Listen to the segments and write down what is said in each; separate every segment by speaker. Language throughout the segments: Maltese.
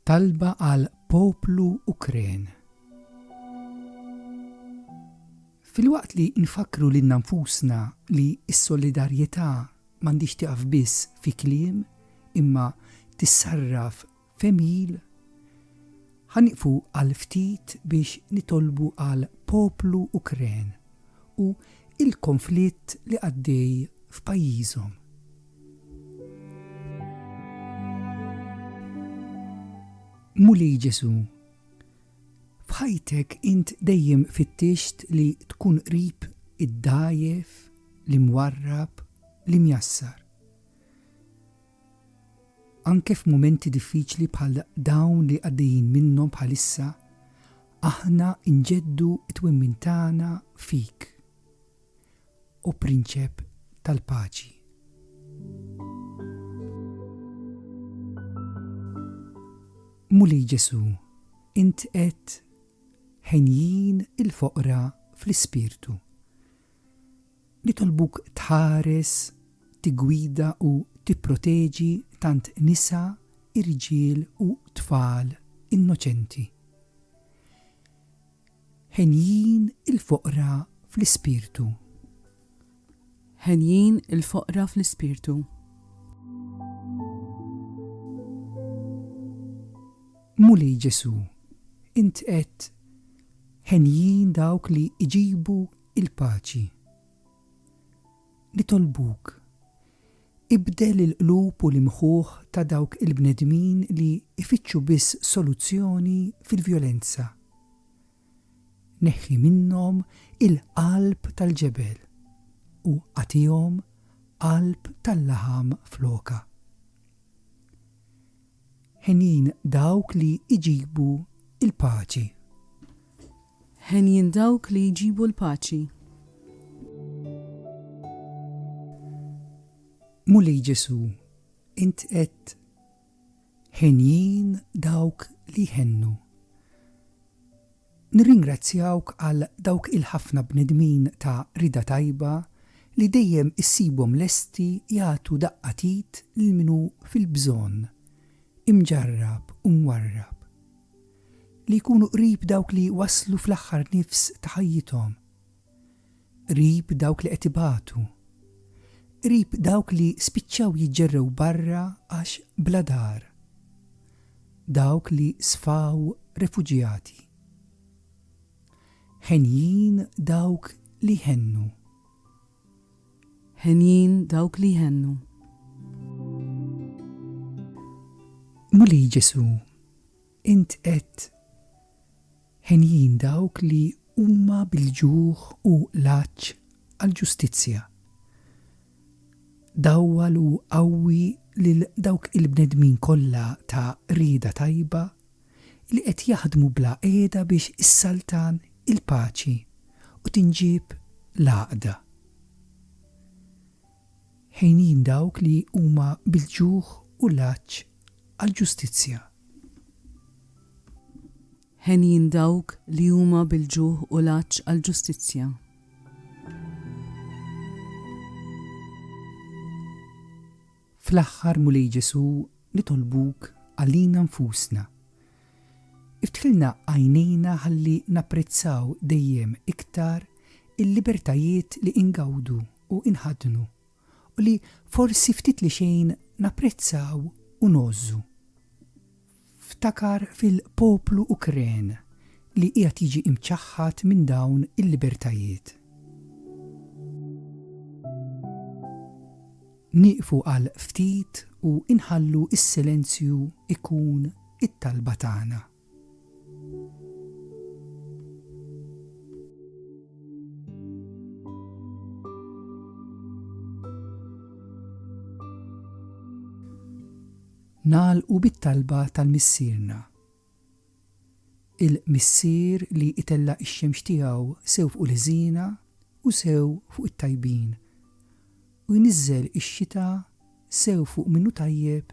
Speaker 1: Talba għal poplu Ukren. Filwaqt li nfakru lil nfusna li s-solidarjetà m'għandix tiqaf biss fi kliem imma tissarraf Femgħil, Ħa nieqfu għal ftit biex nitolbu għal poplu Ukren u il-konflitt li għaddej f'pajjiżhom. Mulej Ġesu, f'ħajtek int dejjem fittixt li tkun qrib id-dgħajjef, l-imwarrab, l-imjassar. Anke f'mumenti diffiċli bħal dawn li għaddejjin minnhom bħalissa, aħna nġeddu t-twemmin tagħna fik, O Prinċep tal-Paċi. Mulej Ġesù, int għedt, Henjin il-foqra fl-ispirtu. Nitolbuk tħares, tiggwida u tipproteġi tant nisa, irġiel u tfal innoċenti henjin il-foqra fl-ispirtu. Henjin il-foqra fl-ispirtu. Mulej Ġesu, int qed Henjin dawk li jġibu l-paċi. Nitolbuk, ibdel il-qlub u l-imħuħ ta' dawk il-bnedmin li jfittxu biss soluzzjoni fil-vjolenza. Neħħi minnhom il-qalb tal-ġebel u agħtihom qalb tal-laħam flokha. Henjin dawk li jġibu l-paċi. Henjin dawk li jġibu l-paċi. Mulej Ġesù, int għedt, Henjin dawk li jħennu. Nirringrazzjawk għal dawk il-ħafna bnedmin ta' rieda tajba li dejjem issibhom lesti jagħtu daqqa t'id lil min hu fil-bżonn, imġarrab u mwarrab. Li jkunu qrib dawk li waslu fl-aħħar nifs ta' ħajjithom. qrib dawk li qed ibatu, qrib dawk li spiċċaw jiġġerrew barra għax bla dar, dawk li sfaw refuġjati. Henjin dawk li jhennu. Henjin dawk li jhennu. Mulej Ġesù, Int għedt, Henjin dawk li huma bil-ġuħ u l-għatx għall-ġustizzja. Dawwal u qawwi lil dawk il-bnedmin kollha ta' rieda tajba li qed jaħdmu bla qiegħda biex issaltan il-paċi u tinġieb l-għaqda. Ħenjin dawk li huma bil-ġuħ u l-għatx għall-ġustizzja. Ħenjin dawk li huma bil-ġuħ u l-għatx għall-ġustizzja. Fl-aħħar, Mulej Ġesù, nitolbuk għalina nfusna. Iftħilna għajnejna ħalli napprezzaw dejjem iktar il-libertajiet li ingawdu u inħaddnu u li forsi ftit li xejn napprezzaw u ngħożżu. Ftakar fil-poplu Ukren li qiegħed jiġi imċaħħad minn dawn il-libertajiet. Nieqfu għal ftit u inħallu s-silenzju jkun it-talba tagħna. Nagħlqu bit-talba tal-Missierna. Il-Missier li itella' x-xemx tiegħu sew fuq il-ħżiena u sew fuq it-tajbin, u jniżżel ix-xita sew fuq min hu tajjeb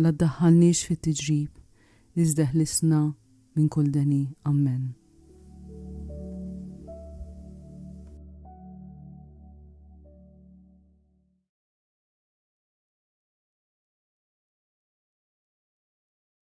Speaker 1: La ddaħħalniex fit tiġrib iżda eħlisna minn kull deni. Ammen.